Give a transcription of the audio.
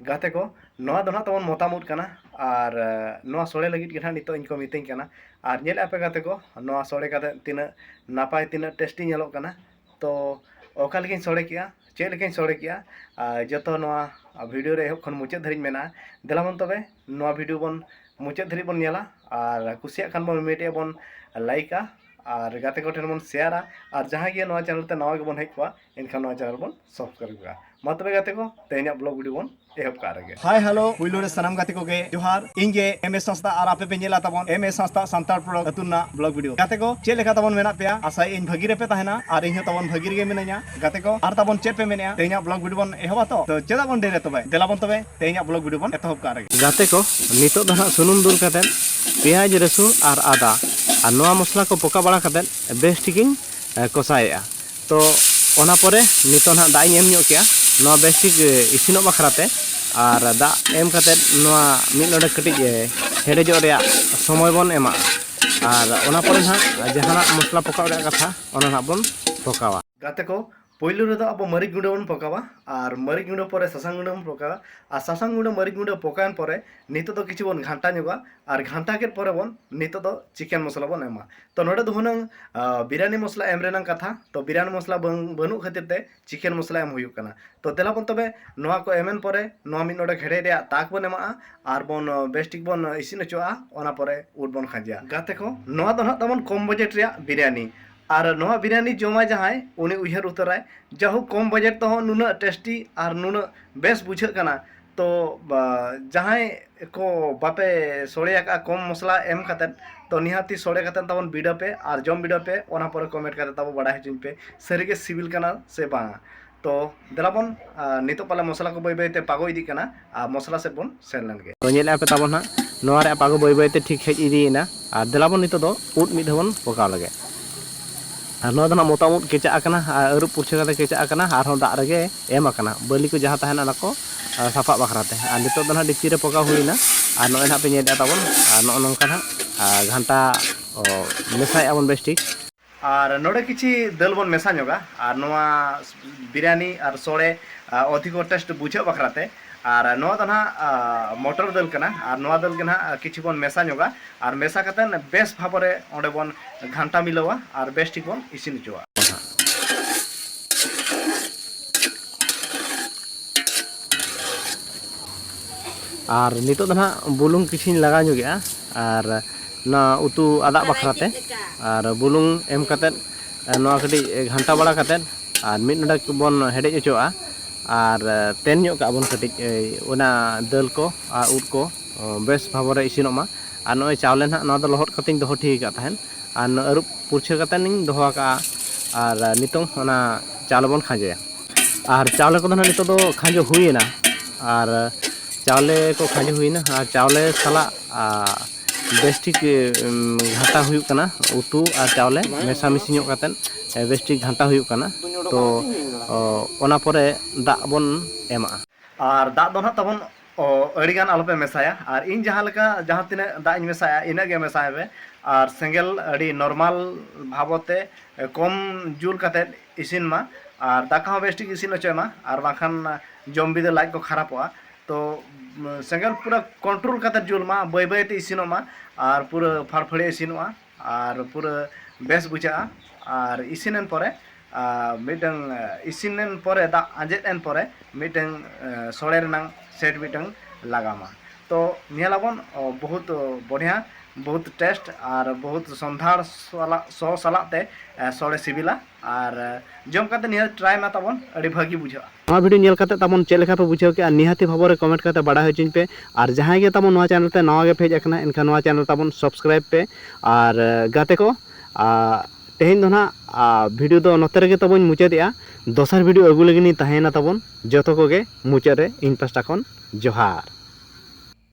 ᱜᱟᱛᱮ ᱠᱚ ᱱᱚᱣᱟ ᱫᱚ ᱱᱟᱦᱟᱜ ᱛᱟᱵᱚᱱ ᱢᱚᱛᱟᱢ ᱩᱫ ᱠᱟᱱᱟ ᱟᱨ ᱱᱚᱣᱟ ᱥᱚᱲᱮ ᱞᱟᱹᱜᱤᱫ ᱜᱮ ᱱᱟᱦᱟᱜ ᱱᱤᱛᱚᱜ ᱤᱧ ᱠᱚ ᱢᱤᱛᱟᱹᱧ ᱠᱟᱱᱟ ᱟᱨ ᱧᱮᱞ ᱟᱯᱮ ᱜᱟᱛᱮ ᱠᱚ ᱱᱚᱣᱟ ᱥᱚᱲᱮ ᱠᱟᱛᱮ ᱛᱤᱱᱟᱹᱜ ᱱᱟᱯᱟᱭ ᱛᱤᱱᱟᱹᱜ ᱴᱮᱥᱴᱤ ᱧᱮᱞᱚᱜ ᱠᱟᱱᱟ ᱛᱚ ᱚᱠᱟ ᱞᱮᱠᱟᱧ ᱥᱚᱲᱮ ᱠᱮᱜᱼᱟ ᱪᱮᱫ ᱞᱮᱠᱟᱧ ᱥᱚᱲᱮ ᱠᱮᱜᱼᱟ ᱟᱨ ᱡᱚᱛᱚ ᱱᱚᱣᱟ ᱵᱷᱤᱰᱤᱭᱳ ᱨᱮ ᱮᱦᱚᱵ ᱠᱷᱚᱱ ᱢᱩᱪᱟᱹᱫ ᱫᱷᱟᱹᱨᱤᱡ ᱢᱮᱱᱟᱜᱼᱟ ᱫᱮᱞᱟ ᱵᱚᱱ ᱛᱚᱵᱮ ᱱᱚᱣᱟ ᱵᱷᱤᱰᱤᱭᱳ ᱵᱚᱱ ᱢᱩᱪᱟᱹᱫ ᱫᱷᱟᱹᱨᱤᱡ ᱵᱚᱱ ᱧᱮᱞᱟ ᱟᱨ ᱠᱩᱥᱤᱭᱟᱜ ᱠᱷᱟᱱ ᱵᱚᱱ ᱢᱤᱫᱴᱮᱡ ᱵᱚᱱ ᱞᱟᱭᱤᱠᱟ ᱟᱨ ᱜᱟᱛᱮ ᱠᱚᱴᱷᱮᱱ ᱵᱚᱱ ᱥᱮᱭᱟᱨᱟ ᱟᱨ ᱡᱟᱦᱟᱸᱭ ᱜᱮ ᱱᱚᱣᱟ ᱪᱮᱱᱮᱞ ᱛᱮ ᱱᱟᱣᱟ ᱜᱮᱵᱚᱱ ᱦᱮᱡ ᱠᱚᱜᱼᱟ ᱮᱱᱠᱷᱟᱱ ᱱᱚᱣᱟ ᱪᱮᱱᱮᱞ ᱵᱚᱱ ᱥᱟᱵᱥᱠᱨᱟᱭᱤᱵ ᱠᱟᱜᱼᱟ ᱢᱟ ᱛᱚᱵᱮ ᱜᱟᱛᱮ ᱠᱚ ᱛᱮᱦᱮᱧᱟᱜ ᱵᱞᱚᱜ ᱵᱷᱤᱰᱤᱭᱳ ᱵᱚᱱ ᱮᱦᱚᱵ ᱠᱟᱜ ᱨᱮᱜᱮ ᱦᱟᱭ ᱦᱮᱞᱳ ᱯᱩᱭᱞᱩ ᱨᱮ ᱥᱟᱱᱟᱢ ᱜᱟᱛᱮ ᱠᱚᱜᱮ ᱡᱚᱦᱟᱨ ᱤᱧ ᱜᱮ ᱮᱢ ᱮᱥ ᱥᱟᱸᱥᱛᱟ ᱟᱨ ᱟᱯᱮ ᱯᱮ ᱧᱮᱞᱟ ᱛᱟᱵᱚᱱ ᱮᱢ ᱮᱥ ᱥᱟᱸᱥᱛᱟ ᱥᱟᱱᱛᱟᱲ ᱯᱨᱚᱰᱚᱠ ᱟᱹᱛᱩ ᱨᱮᱱᱟᱜ ᱵᱞᱚᱜ ᱵᱷᱤᱰᱤᱭᱳ ᱜᱟᱛᱮ ᱠᱚ ᱪᱮᱫ ᱞᱮᱠᱟ ᱛᱟᱵᱚᱱ ᱢᱮᱱᱟᱜ ᱯᱮᱭᱟ ᱟᱥᱟᱭ ᱤᱧ ᱵᱷᱟᱹᱜᱤ ᱨᱮᱯᱮ ᱛᱟᱦᱮᱱᱟ ᱟᱨ ᱤᱧ ᱦᱚᱸ ᱛᱟᱵᱚᱱ ᱵᱷᱟᱹᱜᱤ ᱨᱮᱜᱮ ᱢᱤᱱᱟᱹᱧᱟ ᱜᱟᱛᱮ ᱠᱚ ᱟᱨ ᱛᱟᱵᱚᱱ ᱪᱮᱫ ᱯᱮ ᱢᱮᱱᱮᱜᱼᱟ ᱛᱮᱦᱮᱧᱟᱜ ᱵᱞᱚᱜ ᱵᱷᱤᱰᱤᱭᱳ ᱵᱚᱱ ᱮᱦᱚᱵᱟ ᱛᱚ ᱛᱚ ᱪᱮᱫᱟᱜ ᱵᱚᱱ ᱰᱮᱨᱮ ᱛᱚᱵᱮ ᱫᱮᱞᱟ ᱵᱚᱱ ᱛᱚᱵᱮ ᱛᱮᱦᱮᱧᱟᱜ ᱵᱞᱚᱜ ᱵᱷᱤᱰᱤᱭᱳ ᱵᱚᱱ ᱮᱛᱚᱦᱚᱵ ᱠᱟᱜ ᱨᱮᱜᱮ ᱜᱟᱛᱮ ᱠᱚ ᱱᱤᱛᱚᱜ ᱫᱚ ᱦᱟᱸᱜ ᱥᱩᱱᱩᱢ ᱫᱩᱞ ᱠᱟᱛᱮ ᱯᱮᱸᱭᱟᱡᱽ ᱨᱟᱹᱥᱩᱱ ᱟᱨ ᱟᱫᱟ ᱟᱨ ᱱᱚᱣᱟ ᱢᱚᱥᱞᱟ ᱠᱚ ᱯᱚᱠᱟ ᱵᱟᱲᱟ ᱠᱟᱛᱮ ᱵᱮᱥ ᱴᱷᱤᱠᱤᱧ ᱠᱚᱥᱟᱭᱮᱜᱼᱟ ᱛᱚ ᱚᱱᱟ ᱯᱚᱨᱮ ᱱᱤᱛᱚᱜ ᱱᱟᱦᱟᱜ ᱫᱟᱜ ᱤᱧ ᱮᱢ ᱧᱚᱜ ᱠᱮᱜᱼᱟ ᱱᱚᱣᱟ ᱵᱮᱥ ᱴᱷᱤᱠ ᱤᱥᱤᱱᱚᱜ ᱵᱟᱠᱷᱨᱟ ᱛᱮ ᱟᱨ ᱫᱟᱜ ᱮᱢ ᱠᱟᱛᱮ ᱱᱚᱣᱟ ᱢᱤᱫ ᱱᱚᱰᱮ ᱠᱟᱹᱴᱤᱡ ᱦᱮᱰᱮᱡᱚᱜ ᱨᱮᱭᱟᱜ ᱥᱚᱢᱚᱭ ᱵᱚᱱ ᱮᱢᱟᱜᱼᱟ ᱟᱨ ᱚᱱᱟ ᱯᱚᱨᱮ ᱱᱟᱦᱟᱜ ᱡᱟᱦᱟᱱᱟᱜ ᱢᱚᱥᱞᱟ ᱯᱚᱠᱟᱣ ᱨᱮᱭᱟᱜ ᱠᱟᱛᱷᱟ ᱚᱱᱟ ᱱᱟᱦᱟᱜ ᱵᱚᱱ ᱯᱚᱠᱟᱣᱟ ᱜᱟᱛᱮ ᱠᱚ ᱯᱳᱭᱞᱳ ᱨᱮᱫᱚ ᱟᱵᱚ ᱢᱟᱹᱨᱤᱪ ᱜᱩᱸᱰᱟᱹ ᱵᱚᱱ ᱯᱚᱠᱟᱣᱟ ᱟᱨ ᱢᱟᱹᱨᱤᱪ ᱜᱩᱸᱰᱟᱹ ᱯᱚᱨᱮ ᱥᱟᱥᱟᱝ ᱜᱩᱸᱰᱟᱹ ᱵᱚᱱ ᱯᱚᱠᱟᱣᱟ ᱟᱨ ᱥᱟᱥᱟᱝ ᱜᱩᱸᱰᱟᱹ ᱢᱟᱹᱨᱤᱪ ᱜᱩᱸᱰᱟᱹ ᱯᱚᱠᱟᱣᱮᱱ ᱯᱚᱨᱮ ᱱᱤᱛᱚᱜ ᱫᱚ ᱠᱤᱪᱷᱩ ᱵᱚᱱ ᱜᱷᱟᱱᱴᱟ ᱧᱚᱜᱟ ᱟᱨ ᱜᱷᱟᱱᱴᱟ ᱠᱮᱫ ᱯᱚᱨᱮ ᱵᱚᱱ ᱱᱤᱛᱚᱜ ᱫᱚ ᱪᱤᱠᱮᱱ ᱢᱚᱥᱞᱟ ᱵᱚᱱ ᱮᱢᱟ ᱛᱚ ᱱᱚᱰᱮ ᱫᱚ ᱦᱩᱱᱟᱹᱝ ᱵᱤᱨᱭᱟᱱᱤ ᱢᱚᱥᱞᱟ ᱮᱢ ᱨᱮᱱᱟᱝ ᱠᱟᱛᱷᱟ ᱛᱚ ᱵᱤᱨᱭᱟᱱᱤ ᱢᱚᱥᱞᱟ ᱵᱟᱝ ᱵᱟᱹᱱᱩᱜ ᱠᱷᱟᱹᱛᱤᱨ ᱛᱮ ᱪᱤᱠᱮᱱ ᱢᱚᱥᱞᱟ ᱮᱢ ᱦᱩᱭᱩᱜ ᱠᱟᱱᱟ ᱛᱚ ᱫᱮᱞᱟ ᱵᱚᱱ ᱛᱚᱵᱮ ᱱᱚᱣᱟ ᱠᱚ ᱮᱢ ᱮᱱ ᱯᱚᱨᱮ ᱱᱚᱣᱟ ᱢᱤᱫ ᱱᱚᱰᱮ ᱦᱮᱰᱮᱡ ᱨᱮᱭᱟᱜ ᱛᱟᱠ ᱵᱚᱱ ᱮᱢᱟᱜᱼᱟ ᱟᱨ ᱵᱚᱱ ᱵᱮᱥ ᱴᱷᱤᱠ ᱵᱚᱱ ᱤᱥᱤᱱ ᱦᱚᱪᱚᱣᱟᱜᱼᱟ ᱚᱱᱟ ᱯᱚᱨᱮ ᱩᱫ ᱵᱚᱱ ᱠᱷᱟᱸᱡᱮᱭᱟ ᱜᱟᱛᱮ ᱠᱚ ᱱᱚᱣᱟ ᱫᱚ ᱱᱟᱦᱟᱜ ᱛᱟᱵᱚᱱ ᱠᱚᱢ ᱵᱟᱡᱮᱴ ᱨᱮᱭᱟᱜ ᱵᱤᱨᱭᱟᱱᱤ ᱟᱨ ᱱᱚᱣᱟ ᱵᱤᱨᱭᱟᱱᱤ ᱡᱚᱢᱟ ᱡᱟᱦᱟᱸᱭ ᱩᱱᱤ ᱩᱭᱦᱟᱹᱨ ᱩᱛᱟᱹᱨᱟᱭ ᱡᱟᱦᱳᱠ ᱠᱚᱢ ᱵᱟᱡᱮᱴ ᱛᱮᱦᱚᱸ ᱱᱩᱱᱟᱹᱜ ᱴᱮᱥᱴᱤ ᱟᱨ ᱱᱩᱱᱟᱹᱜ ᱵᱮᱥ ᱵᱩᱡᱷᱟᱹᱜ ᱠᱟᱱᱟ ᱛᱚ ᱡᱟᱦᱟᱸᱭ ᱠᱚ ᱵᱟᱯᱮ ᱥᱚᱲᱮ ᱟᱠᱟᱫᱼᱟ ᱠᱚᱢ ᱢᱚᱥᱞᱟ ᱮᱢ ᱠᱟᱛᱮᱫ ᱛᱚ ᱱᱤᱦᱟᱹᱛᱤ ᱥᱚᱲᱮ ᱠᱟᱛᱮᱫ ᱛᱟᱵᱚᱱ ᱵᱤᱰᱟᱹᱣ ᱯᱮ ᱟᱨ ᱡᱚᱢ ᱵᱤᱰᱟᱹᱣ ᱯᱮ ᱚᱱᱟ ᱯᱚᱨᱮ ᱠᱚᱢᱮᱱᱴ ᱠᱟᱛᱮᱫ ᱛᱟᱵᱚ ᱵᱟᱰᱟᱭ ᱦᱚᱪᱚᱧ ᱯᱮ ᱥᱟᱹᱨᱤᱜᱮ ᱥᱤᱵᱤᱞ ᱠᱟᱱᱟ ᱥᱮ ᱵᱟᱝᱟ ᱛᱚ ᱫᱮᱞᱟ ᱵᱚᱱ ᱱᱤᱛᱚᱜ ᱯᱟᱞᱮ ᱢᱚᱥᱞᱟ ᱠᱚ ᱵᱟᱹᱭ ᱵᱟᱹᱭᱛᱮ ᱯᱟᱜᱚ ᱤᱫᱤᱜ ᱠᱟᱱᱟ ᱟᱨ ᱢᱚᱥᱞᱟ ᱥᱮᱫ ᱵᱚᱱ ᱥᱮᱱ ᱞᱮᱱ ᱜᱮ ᱛᱚ ᱧᱮᱞᱮᱫᱼᱟ ᱯᱮ ᱛᱟᱵᱚᱱ ᱦᱟᱸᱜ ᱱᱚᱣᱟ ᱨᱮᱭᱟᱜ ᱯᱟᱜᱚ ᱵᱟᱹᱭ ᱵᱟᱹᱭᱛᱮ ᱴᱷᱤᱠ ᱦᱮᱡ ᱤᱫᱤᱭᱮᱱᱟ ᱟᱨ ᱫᱮᱞᱟ ᱵᱚᱱ ᱱᱤᱛᱚᱜ ᱫᱚ ᱩᱫ ᱢᱤᱫ ᱫᱷᱟᱣ ᱵᱚᱱ ᱯᱚᱠᱟᱣ ᱞᱮᱜᱮ ᱟᱨ ᱱᱚᱣᱟ ᱫᱚ ᱱᱟᱜ ᱢᱚᱛᱟᱢ ᱩᱫ ᱠᱮᱪᱟᱜ ᱟᱠᱟᱱᱟ ᱟᱨ ᱟᱹᱨᱩᱵ ᱯᱩᱨᱪᱷᱟᱹ ᱠᱟᱛᱮ ᱠᱮᱪᱟᱜ ᱟᱠᱟᱱᱟ ᱟᱨ ᱦᱚᱸ ᱫᱟᱜ ᱨᱮᱜᱮ ᱮᱢ ᱟᱠᱟᱱᱟ ᱵᱟᱹᱞᱤ ᱠᱚ ᱡᱟᱦᱟᱸ ᱛᱟᱦᱮᱱᱟ ᱚᱱᱟ ᱠᱚ ᱥᱟᱯᱷᱟᱜ ᱵᱟᱠᱷᱨᱟ ᱛᱮ ᱟᱨ ᱱᱤᱛᱚᱜ ᱫᱚ ᱱᱟᱜ ᱰᱮᱠᱪᱤ ᱨᱮ ᱯᱚᱜᱟᱣ ᱦᱩᱭ ᱮᱱᱟ ᱟᱨ ᱱᱚᱜᱼᱚᱭ ᱱᱟᱜ ᱯᱮ ᱧᱮᱞᱮᱫᱼᱟ ᱛᱟᱵᱚᱱ ᱟᱨ ᱱᱚᱜᱼᱚ ᱱᱚᱝᱠᱟ ᱱᱟᱜ ᱜᱷᱟᱱᱴᱟ ᱢᱮᱥᱟᱭᱮᱫᱼᱟ ᱵᱚᱱ ᱵᱮᱥ ᱴᱷᱤᱠ ᱟᱨ ᱱᱚᱰᱮ ᱠᱤᱪᱷᱤ ᱫᱟᱹᱞ ᱵᱚᱱ ᱢᱮᱥᱟ ᱧᱚᱜᱟ ᱟᱨ ᱱᱚᱣᱟ ᱵᱤᱨᱭᱟᱱᱤ ᱟᱨ ᱥᱚᱲᱮ ᱚᱫᱷᱤᱠᱚ ᱴᱮᱥᱴ ᱵᱩᱡᱷᱟᱹᱜ ᱵᱟᱠᱷᱨᱟ ᱛᱮ ᱟᱨ ᱱᱚᱣᱟ ᱫᱚ ᱱᱟᱦᱟᱜ ᱢᱚᱴᱚᱨ ᱫᱟᱹᱞ ᱠᱟᱱᱟ ᱟᱨ ᱱᱚᱣᱟ ᱫᱟᱹᱞ ᱜᱮ ᱱᱟᱦᱟᱜ ᱠᱤᱪᱷᱩ ᱵᱚᱱ ᱢᱮᱥᱟ ᱧᱚᱜᱟ ᱟᱨ ᱢᱮᱥᱟ ᱠᱟᱛᱮ ᱵᱮᱥ ᱵᱷᱟᱵᱽ ᱨᱮ ᱚᱸᱰᱮ ᱵᱚᱱ ᱜᱷᱟᱱᱴᱟ ᱢᱤᱞᱟᱹᱣᱟ ᱟᱨ ᱵᱮᱥ ᱴᱷᱤᱠ ᱵᱚᱱ ᱤᱥᱤᱱ ᱦᱚᱪᱚᱣᱟᱜᱼᱟ ᱟᱨ ᱱᱤᱛᱚᱜ ᱫᱚ ᱱᱟᱦᱟᱜ ᱵᱩᱞᱩᱝ ᱠᱤᱪᱷᱤᱧ ᱞᱟᱜᱟᱣ ᱧᱚᱜᱮᱜᱼᱟ ᱟᱨ ᱱᱚᱣᱟ ᱩᱛᱩ ᱟᱫᱟᱜ ᱵᱟᱠᱷᱨᱟ ᱛᱮ ᱟᱨ ᱵᱩᱞᱩᱝ ᱮᱢ ᱠᱟᱛᱮ ᱱᱚᱣᱟ ᱠᱟᱹᱴᱤᱡ ᱜᱷᱟᱱᱴᱟ ᱵᱟᱲᱟ ᱠᱟᱛᱮ ᱟᱨ ᱢᱤᱫ ᱰᱚᱸᱰᱮᱠ ᱵᱚᱱ ᱦᱮᱰᱮᱡ ᱚᱪᱚᱣᱟᱜᱼᱟ ᱟᱨ ᱛᱮᱱ ᱧᱚᱜ ᱠᱟᱜᱼᱟ ᱵᱚᱱ ᱠᱟᱹᱴᱤᱡ ᱚᱱᱟ ᱫᱟᱹᱞ ᱠᱚ ᱟᱨ ᱩᱫ ᱠᱚ ᱵᱮᱥ ᱵᱷᱟᱵᱚᱨᱮ ᱤᱥᱤᱱᱚᱜ ᱢᱟ ᱟᱨ ᱱᱚᱜᱼᱚᱭ ᱪᱟᱣᱞᱮ ᱱᱟᱦᱟᱜ ᱱᱚᱣᱟ ᱫᱚ ᱞᱚᱦᱚᱫ ᱠᱟᱛᱮᱧ ᱫᱚᱦᱚ ᱴᱷᱤᱠ ᱟᱠᱟᱫ ᱛᱟᱦᱮᱸᱫ ᱟᱨ ᱟᱹᱨᱩᱵ ᱯᱩᱨᱪᱷᱟᱹ ᱠᱟᱛᱮᱱᱤᱧ ᱫᱚᱦᱚ ᱟᱠᱟᱫᱼᱟ ᱟᱨ ᱱᱤᱛᱚᱝ ᱚᱱᱟ ᱪᱟᱣᱞᱮ ᱵᱚᱱ ᱠᱷᱟᱸᱡᱚᱭᱟ ᱟᱨ ᱪᱟᱣᱞᱮ ᱠᱚᱫᱚ ᱱᱟᱦᱟᱜ ᱱᱤᱛᱚᱜ ᱫᱚ ᱠᱷᱟᱸᱡᱚ ᱦᱩᱭᱮᱱᱟ ᱟᱨ ᱪᱟᱣᱞᱮ ᱠᱚ ᱠᱷᱟᱸᱡᱚ ᱦᱩᱭᱮᱱᱟ ᱟᱨ ᱪᱟᱣᱞᱮ ᱥᱟᱞᱟᱜ ᱵᱮᱥᱴᱷᱤᱠ ᱜᱷᱟᱴᱟ ᱦᱩᱭᱩᱜ ᱠᱟᱱᱟ ᱩᱛᱩ ᱟᱨ ᱪᱟᱣᱞᱮ ᱢᱮᱥᱟ ᱢᱤᱥᱤ ᱧᱚᱜ ᱠᱟᱛᱮᱫ ᱵᱮᱥᱴᱷᱤᱠ ᱜᱷᱟᱱᱴᱟ ᱦᱩᱭᱩᱜ ᱠᱟᱱᱟ ᱛᱚ ᱚᱱᱟ ᱯᱚᱨᱮ ᱫᱟᱜ ᱵᱚᱱ ᱮᱢᱟᱜᱼᱟ᱾ ᱟᱨ ᱫᱟᱜ ᱫᱚ ᱱᱟᱦᱟᱜ ᱛᱟᱵᱚᱱ ᱟᱹᱰᱤ ᱜᱟᱱ ᱟᱞᱚ ᱯᱮ ᱢᱮᱥᱟᱭᱟ ᱟᱨ ᱤᱧ ᱡᱟᱦᱟᱸ ᱞᱮᱠᱟ ᱡᱟᱦᱟᱸ ᱛᱤᱱᱟᱹᱜ ᱫᱟᱜ ᱤᱧ ᱢᱮᱥᱟᱭᱟ ᱤᱱᱟᱹᱜ ᱜᱮ ᱢᱮᱥᱟᱭ ᱯᱮ ᱟᱨ ᱥᱮᱸᱜᱮᱞ ᱟᱹᱰᱤ ᱱᱚᱨᱢᱟᱞ ᱵᱷᱟᱵᱚᱛᱮ ᱠᱚᱢ ᱡᱩᱞ ᱠᱟᱛᱮᱫ ᱤᱥᱤᱱ ᱢᱟ ᱟᱨ ᱫᱟᱠᱟ ᱦᱚᱸ ᱵᱮᱥᱴᱷᱤᱠ ᱤᱥᱤᱱ ᱚᱪᱚᱭ ᱢᱟ ᱟᱨ ᱵᱟᱝᱠᱷᱟᱱ ᱡᱚᱢ ᱵᱤᱫᱟᱹ ᱞᱟᱡ ᱠᱚ ᱠᱷᱟᱨᱟᱯᱚᱜᱼᱟ᱾ ᱛᱚ ᱥᱮᱸᱜᱮᱞ ᱯᱩᱨᱟᱹ ᱠᱚᱱᱴᱨᱳᱞ ᱠᱟᱛᱮ ᱡᱩᱞ ᱢᱟ ᱵᱟᱹᱭ ᱵᱟᱹᱭ ᱛᱮ ᱤᱥᱤᱱᱚᱜ ᱢᱟ ᱟᱨ ᱯᱩᱨᱟᱹ ᱯᱷᱟᱲ ᱯᱷᱟᱹᱲᱤ ᱤᱥᱤᱱᱚᱜᱼᱟ ᱟᱨ ᱯᱩᱨᱟᱹ ᱵᱮᱥ ᱵᱩᱡᱷᱟᱹᱜᱼᱟ ᱟᱨ ᱤᱥᱤᱱᱮᱱ ᱯᱚᱨᱮ ᱢᱤᱫᱴᱟᱝ ᱤᱥᱤᱱᱮᱱ ᱯᱚᱨᱮ ᱫᱟᱜ ᱟᱸᱡᱮᱫ ᱮᱱ ᱯᱚᱨᱮ ᱢᱤᱫᱴᱟᱝ ᱥᱚᱲᱮ ᱨᱮᱱᱟᱝ ᱥᱮᱴ ᱢᱤᱫᱴᱟᱝ ᱞᱟᱜᱟᱣ ᱢᱟ ᱛᱚ ᱧᱮᱞ ᱟᱵᱚᱱ ᱵᱚᱦᱩᱛ ᱵᱚᱲᱦᱭᱟ ᱵᱚᱦᱩᱛ ᱴᱮᱥᱴ ᱟᱨ ᱵᱚᱦᱩᱛ ᱥᱚᱱᱫᱷᱟᱲ ᱥᱚ ᱥᱟᱞᱟᱜ ᱛᱮ ᱥᱚᱲᱮ ᱥᱤᱵᱤᱞᱟ ᱟᱨ ᱡᱚᱢ ᱠᱟᱛᱮ ᱱᱤᱦᱟᱹᱛ ᱴᱨᱟᱭ ᱢᱟ ᱛᱟᱵᱚᱱ ᱟᱹᱰᱤ ᱵᱷᱟᱹᱜᱤ ᱵᱩᱡᱷᱟᱹᱜᱼᱟ ᱱᱚᱣᱟ ᱵᱷᱤᱰᱤᱭᱳ ᱧᱮᱞ ᱠᱟᱛᱮ ᱛᱟᱵᱚᱱ ᱪᱮᱫ ᱞᱮᱠᱟ ᱯᱮ ᱵᱩᱡᱷᱟᱹᱣ ᱠᱮᱜᱼᱟ ᱱᱤᱦᱟᱹᱛᱤ ᱵᱷᱟᱵᱚ ᱨᱮ ᱠᱚᱢᱮᱱᱴ ᱠᱟᱛᱮ ᱵᱟᱰᱟᱭ ᱦᱚᱪᱚᱧ ᱯᱮ ᱟᱨ ᱡᱟᱦᱟᱸᱭ ᱜᱮ ᱛᱟᱵᱚᱱ ᱱᱚᱣᱟ ᱪᱮᱱᱮᱞ ᱛᱮ ᱱᱟᱣᱟ ᱜᱮ ᱯᱮᱡ ᱟᱠᱟᱱᱟ ᱮᱱᱠᱷᱟᱱ ᱱᱚᱣᱟ ᱪᱮᱱᱮᱞ ᱛᱟᱵᱚᱱ ᱥᱟᱵᱥᱠᱨᱟᱭᱤᱵ ᱯᱮ ᱟᱨ ᱜᱟᱛᱮ ᱠᱚ ᱛᱮᱦᱮᱧ ᱫᱚ ᱱᱟᱜ ᱵᱷᱤᱰᱤᱭᱳ ᱫᱚ ᱱᱚᱛᱮ ᱨᱮᱜᱮ ᱛᱟᱵᱚᱱ ᱢᱩᱪᱟᱹᱫᱮᱜᱼᱟ ᱫᱚᱥᱟᱨ ᱵᱷᱤᱰᱤᱭᱳ ᱟᱹᱜᱩ ᱞᱟᱹᱜᱤᱫ ᱤᱧ ᱛᱟᱦᱮᱸᱭᱮᱱᱟ ᱛᱟᱵᱚᱱ ᱡᱚᱛᱚ ᱠᱚᱜᱮ ᱢᱩᱪᱟᱹᱫ ᱨᱮ ᱤᱧ ᱯᱟᱥᱴᱟ ᱠᱷᱚᱱ ᱡᱚᱦᱟᱨ